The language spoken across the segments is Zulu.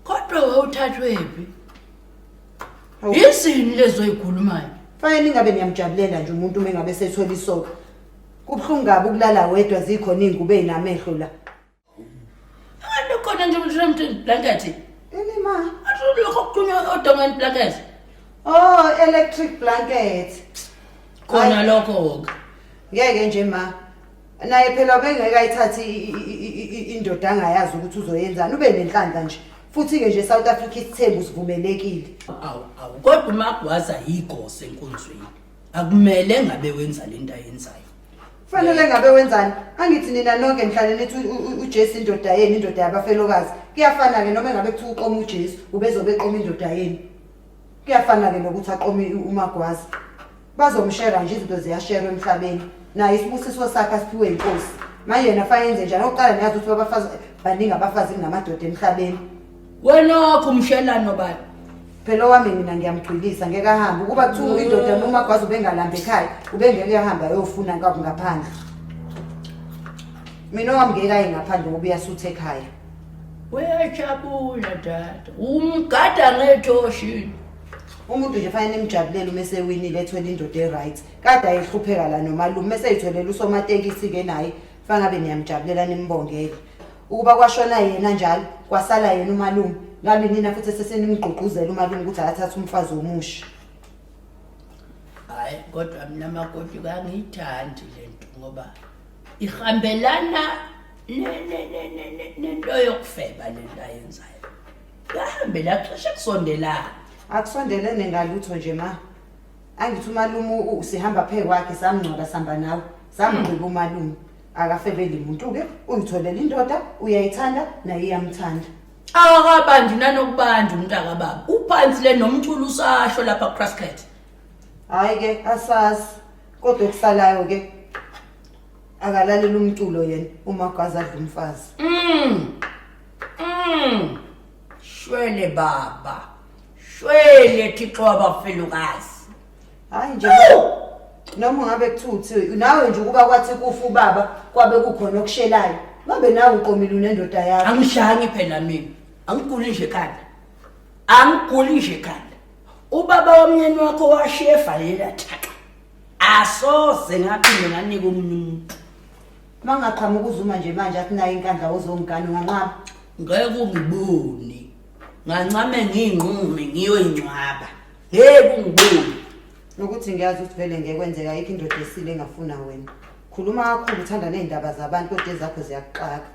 kodwa wawuthathwephi Hawu. yizini lezo yikhulumayo fanele ningabe niyamjabulela nje umuntu uma engabe sethwele isoko kubuhlungu kabi ukulala wedwa zikhona iy'ngubo ey'namehlo la abantu khona nje mshramtini blankethi ini ma asulokho kuqhunywa odongeni blankethi oh electric blanket khona Ayi. lokho-ke ngeke nje ma naye phela ubengeke ayithathe indoda angayazi ukuthi uzoyenzani ube nenhlanhla nje futhi-ke nje south africa isithembu sivumelekile awu awu kodwa umagwaza yigose enkonzweni akumele ngabe wenza le nto ayenzayo fanele ngabe wenzani angithi nina nonke nihlale nithi ujesu indoda yenu indoda yabafelokazi kuyafana-ke noma engabe kuthiwa uqoma ujesu ubezobe eqoma indoda yenu kuyafana-ke nokuthi aqome umagwaza bazomshera nje izinto ziyasherwa emhlabeni naye isibusiso sakhe asiphiwe inkosi manje yena fanele yenze njani oqala niyazi ukuthi babafazi baningi abafazi kunamadoda emhlabeni wenokho umshelano bani phela owami mina ngiyamgcwilisa ngeke ahambe ukuba kuthiwa mm. indoda noma kwazi ubengalambi ekhaya ubengeke ahambe ayofuna kabi ngaphandle mina owami ngeke aye ngaphandle ngoba uyasutha ekhaya uyajabula dada umgada ngetoshini umuntu nje fanele nimjabulele uma esewinile ethwele indoda e-right kade ayehlupheka la nomalume uma eseyitholele usomatekisi-ke naye fangabe niyamjabulela nimbongele ukuba kwashona yena njalo kwasala yena umalume ngabe nina futhi sesenimgqugquzela umalume ukuthi akathathe umfazi womusha hayi kodwa mina makoti kangiyithandi le nto ngoba ihambelana nento yokufeba le nto ayenzayo Kahambe la cishe kusondelana. Akusondelene ngalutho nje ma. Angithi umalume u- sihamba phe kwakhe samngcwaba sihamba nawe. Samgqiba umalume. Akafebeli umuntu ke uyitholela indoda uyayithanda naye iyamthanda. Akabandi nanokubanda umntaka baba. Uphansi le nomculo usasho lapha kuCrasket. Hayi ke asazi kodwa okusalayo ke akalalela umculo yena uma gwaza adla umfazi. Mm. Mm. Shwele baba. Shwele Thixo wabafelokazi. Hayi nje noma ngabe kuthuthi nawe nje ukuba kwathi kufa ubaba kwabe kukhona okushelayo. Ngabe nawe uqomile unendoda yakho. Angishangi phela mina. Angiguli nje khanda. Angiguli nje khanda. Ubaba womnyeni wakho washiya evalela thaqa. Asoze ngaphinde nganika umuntu. Uma ngaqhamuka uZuma nje manje athi nayo inkandla wozongigana unganqaba. Ngeke ungibone. Ngancame ngiyinqume ngiyoyingcwaba. Ngeke ungibone. Nokuthi ngiyazi ukuthi vele ngeke kwenzeka ayikho indoda esile engafuna wena. Khuluma kakhulu uthanda nezindaba zabantu kodwa ezakho ziyakuxaka.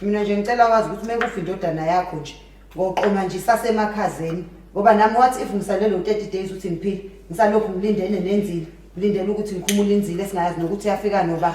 Mina nje ngicela wazi ukuthi mekufa indodana yakho nje ngoqoma nje sasemakhazeni ngoba nami wathi if ngisalelo 30 days uthi ngiphile ngisalokhu ngilindene nenzile ngilindele ukuthi ngikhumule inzile singayazi nokuthi yafika noba